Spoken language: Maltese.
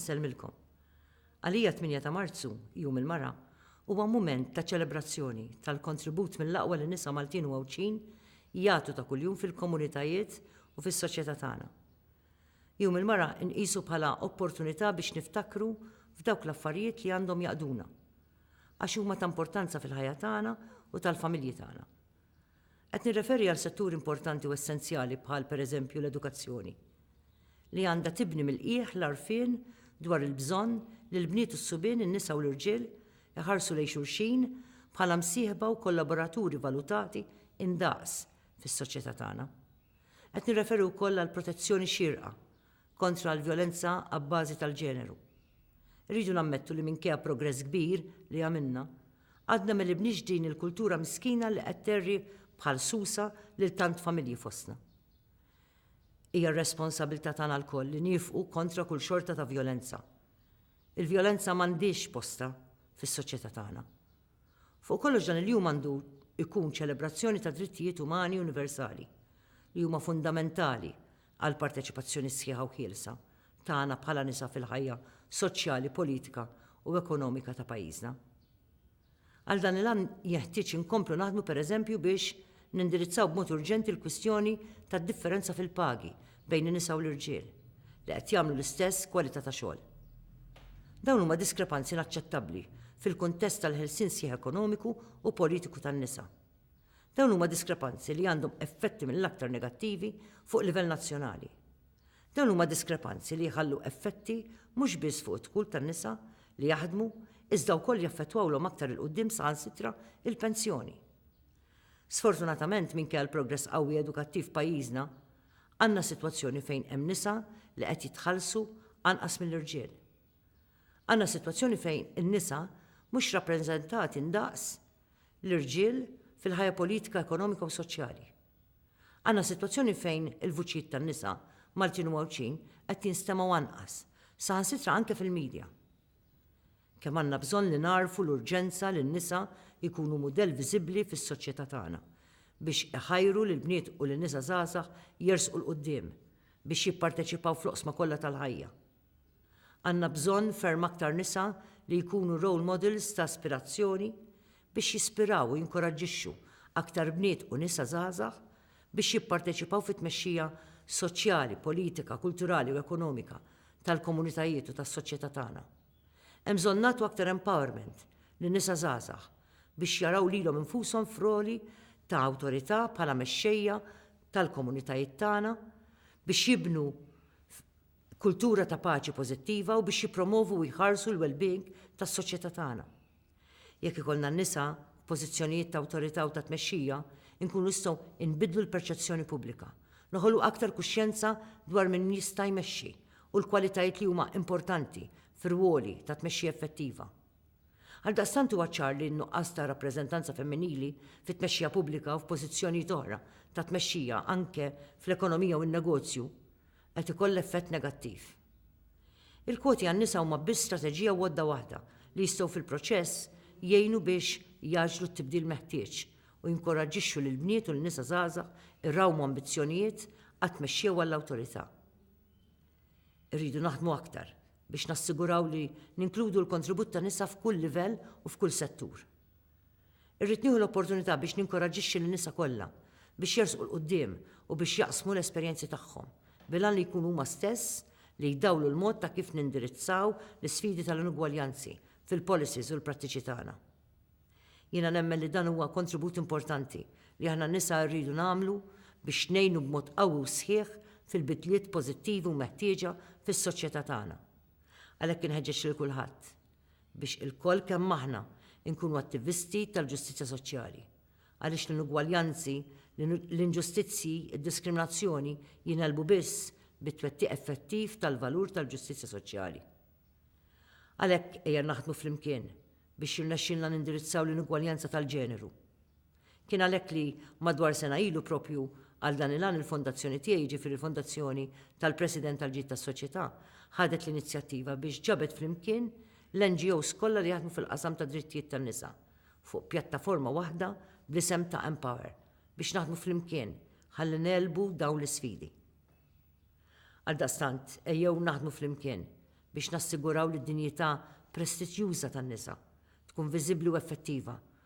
Insellmilkom. Għalija 8 ta' Marzu, Jum il-Mara, huwa mument ta' ċelebrazzjoni tal-kontribut mill-aqwa li nisa Maltin u Għawdxin jagħtu ta' kuljum fil-komunitajiet u fis-soċjetà tagħna. Jum il-Mara nqisu bħala opportunità biex niftakru f'dawk l-affarijiet li għandhom jaqduna, għax huma ta' importanza fil-ħajja tagħna u tal-familji tagħna. Qed nirreferi għal setturi importanti u essenzjali bħal, pereżempju, l-edukazzjoni, li għandha tibni mill-qiegħ l-għarfien dwar il-bżonn li l-bniet u s-subien, in-nisa u l-irġiel, iħarsu lejn xulxin bħala msieħba u kollaboraturi valutati indaqs fis-soċjetà tagħna. Qed nirreferi wkoll għall-protezzjoni xierqa kontra l-vjolenza abbażi tal-ġeneru. Irridu nammettu li minkejja progress kbir li għamilna, għadna ma libniex din il-kultura miskina li qed terri bħal susa lil tant familji fostna. Hija r-responsabilità tagħna lkoll li niefqu kontra kull xorta ta' vjolenza. Il-vjolenza m'għandhiex postha fis-soċjetà tagħna. Fuq kollox dan il-jum għandu jkun ċelebrazzjoni tad-drittijiet umani universali, li huma fundamentali għall-parteċipazzjoni sħiħa u ħielsa tagħna bħala nisa fil-ħajja soċjali, politika u ekonomika ta' pajjiżna. Għal dan il-għan jenħtieġ inkomplu naħdmu pereżempju biex nindirizzaw b'mod urġenti l-kwistjoni tad-differenza fil-pagi bejn in-nisa u l-irġiel li qed jagħmlu l-istess kwalità ta' xogħol. Dawn huma diskrepanzi inaċċettabbli fil-kuntest tal-ħelsien sħiħ ekonomiku u politiku tan-nisa. Dawn huma diskrepanzi li għandhom effetti mill-aktar negattivi fuq livell nazzjonali. Dawn huma diskrepanzi li jħallu effetti mhux biss fuq id-dħul tan-nisa li jaħdmu iżda wkoll jaffettwawlhom aktar 'il quddiem saħansitra il-pensjoni. Sfortunatament minkejja l-progress qawwi edukattiv f'pajjiżna, għandna sitwazzjoni fejn hemm nisa li qed jitħallsu anqas mill-irġiel. Għandna sitwazzjoni fejn in-nisa mhux rappreżentati ndaqs l-irġiel fil-ħajja politika, ekonomika u soċjali. Għandna sitwazzjoni fejn il-vuċijiet tan-nisa, Maltin u Għawdxin, qed jinstemgħu anqas, saħansitra anke fil-midja. Kemm għandna bżonn li nagħrfu l-urġenza li n-nisa jkunu mudell viżibbli fis-soċjetà tagħna, biex iħajru lill-bniet u lin-nisa żgħażagħ jersqu 'l quddiem, biex jipparteċipaw fl-oqsma kollha tal-ħajja. Għandna bżonn ferm aktar nisa li jkunu role models ta' aspirazzjoni biex jispiraw u jinkoraġġixxu aktar bniet u nisa żgħażagħ biex jipparteċipaw fit-tmexxija soċjali, politika, kulturali u ekonomika tal-komunitajiet u tas-soċjetà tagħna. Hemm bżonn nagħtu aktar empowerment lin-nisa żgħażagħ biex jaraw lilhom infushom f'roli ta' awtorità bħala mexxejja tal-komunitajiet tagħna biex jibnu kultura ta' paċi pożittiva u biex jippromovu u jħarsu l-wellbeing tas-soċjetà tagħna. Jekk ikollna n-nisa f'pożizzjonijiet ta' awtorità u ta' tmexxija, inkunu nistgħu nbiddlu l-perċezzjoni pubblika, noħolqu aktar kuxjenza dwar min jista' jmexxi u l-kwalitajiet li huma importanti f'irwoli ta' tmexxija effettiva. Għaldaqstant huwa ċar li n-nuqqas ta' rappreżentanza femminili fit-tmexxija pubblika u f'pożizzjonijiet oħra ta' tmexxija anke fl-ekonomija u n-negozju qed ikollha effett negattiv. Il-kwoti għan-nisa huma biss strateġija u għodda waħda li jistgħu fil-proċess jgħinu biex jgħaġġlu t-tibdil meħtieġ u jinkoraġġixxu lill-bniet u l-nisa żgħażagħ irawmu ambizzjonijiet għat-tmexxija u għall-awtorità. Irridu naħdmu aktar biex nassiguraw li ninkludu l-kontribut ta' nisa f'kull livell u f'kull settur. Irrid nieħu l-opportunità biex ninkoraġġixxi lin-nisa kollha biex jersqu 'l quddiem u biex jaqsmu l-esperjenzi tagħhom, bil-għan li jkunu huma stess li jdawlu l-mod ta' kif nindirizzaw l-isfidi tal-inugwaljanzi fil-policies u l-prattiċi tagħna. Jiena nemmen li dan huwa kontribut importanti li aħna n-nisa rridu nagħmlu biex ngħinu b'mod qawwi u sħiħ fil-bidliet pożittivi u meħtieġa fis-soċjetà tagħna. Għalhekk inħeġġeġ lil kulħadd, biex ilkoll kemm aħna nkunu attivisti tal-ġustizzja soċjali, għaliex l-inugwaljanzi, l-inġustizzji, id-diskriminazzjoni jingħelbu biss bit-twettiq effettiv tal-valur tal-ġustizzja soċjali. Għalhekk ejja naħdmu flimkien biex jirnexxilna nindirizzaw l-inugwaljanza tal-ġeneru. Kien għalhekk li, madwar sena ilu proprju għal dan il-għan il-fondazzjoni tiegħi, jiġifieri l-Fondazzjoni tal-President għall-Ġid tas-Soċjetà, ħadet l-inizjattiva biex ġabet flimkien l-NGOs kollha li jaħdmu fil-qasam tad-drittijiet tan-nisa fuq pjattaforma waħda bl-isem ta' Empower biex naħdmu flimkien ħalli negħlbu dawn l-isfidi. Għaldaqstant, ejjew naħdmu flimkien biex nassiguraw li d-dinjità prestiġjuża tan-nisa tkun viżibbli u effettiva